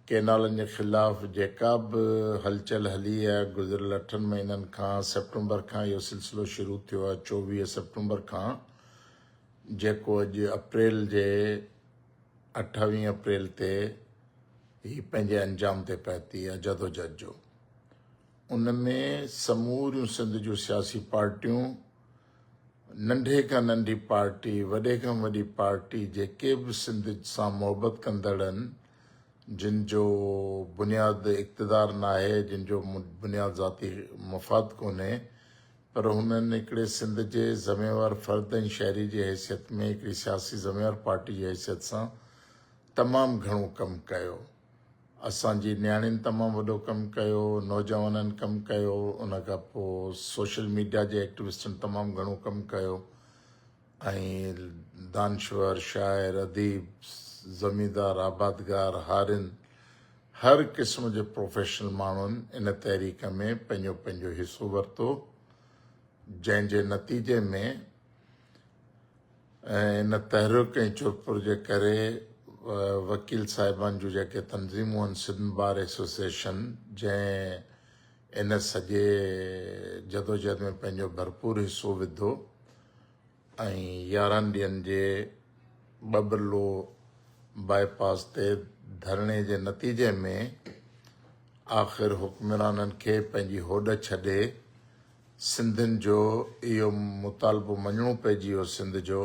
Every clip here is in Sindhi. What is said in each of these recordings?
ڪينالن جي خلاف جيڪا به هلچل هلي آهي، گذريل اٺن مهينن کان سيپٽمبر کان اهو سلسلو شروع ٿيو آهي، چوويهه سيپٽمبر کان جيڪو اڄ اپريل جي اٺاويهه اپريل تي هي پنهنجي انجام تي پهتي آهي جدوجهد جو ان ۾ سموريون سنڌ جون سياسي پارٽيون ننڍي کان ننڍي پارٽي وڏي کان وڏي پارٽي جيڪي به سنڌ سان محبت ڪندڙ آهن جن جو بنياد اقتدار ناهي، جن جو بنياد ذاتي مفاد ڪونهي پر هنن هڪڙي سنڌ جي ذميوار فرد ۽ شهري جي حيثيت ۾ هڪڙي سياسي ذميوار پارٽي جي حيثيت سان تمام گهڻو ڪم ڪيو. اسان جي نياڻين تمام وڏو ڪم ڪيو، نوجوانن ڪم ڪيو، ان کان پوء سوشل ميڊيا جي ايڪٽوسٽن تمام گهڻو ڪم ڪيو. ۽ دانشور، شاعر، اديب، زميندار، آبادگار، هارين، هر قسم جي پروفيشنل ماڻهن ان تحريڪ ۾ پنهنجو پنهنجو حصو ورتو، جنهن جي نتيجي ۾ ان تحرڪ ۽ چرپر جي ڪري وڪيل صاحبان جون جيڪي تنظيمون آهن سنڌ بار ايسوسيئيشن جنهن ان سڄي جدوجهد ۾ پنهنجو ڀرپور حصو وڌو، ۽ يارهن ڏينهن جي ٻبرلو باء پاس تي ڌرڻي جي نتيجي ۾ آخر حڪمرانن کي پنهنجي هوڏ ڇڏي سنڌين جو اهو مطالبو مڃڻو پئجي ويو سنڌ جو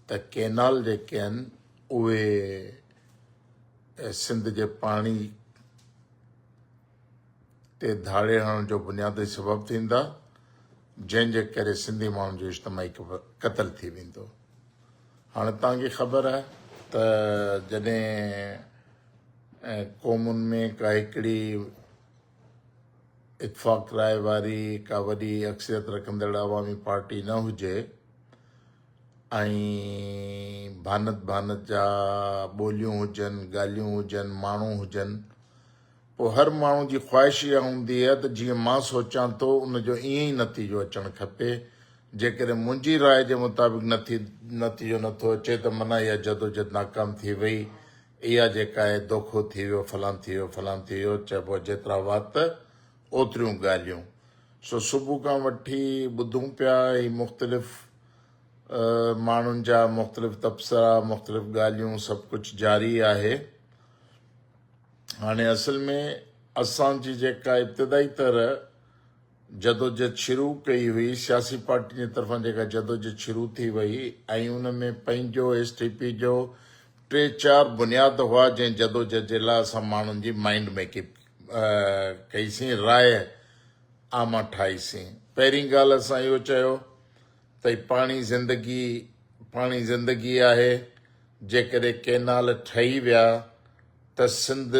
ته ڪينال جيڪي آهن اهي سنڌ جي پاڻي تي ڌاڙي هڻڻ جو بنيادي سبب ٿيندا، جنهن جي ڪري سنڌي ماڻهن جو اجتماعي قتل ٿي ويندو. هاڻي توهان کي خبر آهي ته جڏهن قومن ۾ ڪا هڪڙي اتفاق راء واري ڪا وڏي اڪثريت رکندڙ عوامي پارٽي نه هجي ۽ ڀانت ڀانت جا ٻوليون هجن، ڳالهيون هجن، ماڻهو هجن، پوء هر ماڻهو جي خواهش اها هوندي آهي ته جيئن مان سوچان ٿو ان جو ائين ئي نتيجو اچڻ کپي، جيڪڏهن منهنجي راء جي مطابق نتيجو نه ٿو اچي ته معنيٰ اها جدوجهد ناڪام ٿي وئي، اها جيڪا آهي دوکو ٿي ويو، فلان ٿي ويو، فلان ٿي ويو، چئبو آهي جيترا وات اوتريون ڳالهيون. سو صبح کان وٺي ٻڌون پيا هي مختلف ماڻهن جا مختلف تبصرا، مختلف ڳالهيون سڀ ڪجهه جاري آهي. هاڻي اصل ۾ اسان جي جيڪا ابتدائي طرح جدوجھد شروع ڪئي هئي، سياسي پارٽين جي طرفان جيڪا جدوجھد شروع ٿي وئي ۽ ان ۾ پنهنجو ايس ٽي پي جو ٽي چار بنياد هئا جنهن جدوجھد جي لاء اسان ماڻهن جي مائينڊ ميڪپ ڪئي سين راء عامه ٺاهي سين. پهرين ڳالهه اسان اهو چيو ته هي پاڻي زندگي پاڻي زندگي آهي جيڪڏهن ڪينال ٺهي ويا ته سنڌ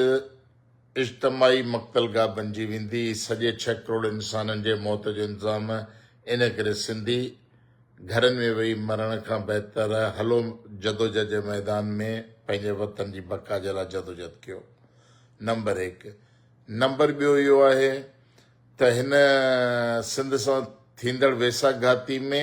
اجتماعي مقتل گاهه بنجي ويندي سڄي ڇهه ڪروڙ انسانن جي موت جو انتظام انهي ڪري سنڌي گهرن ۾ ويهي مرڻ کان بهتر هلو جدوجهد جي ميدان ۾ پنهنجي وطن جي بقا جي لاء جدوجهد ڪيو نمبر هڪ نمبر ٻيو اهو آهي ته هن سنڌ سان ٿيندڙ ويساهه گهاتي ۾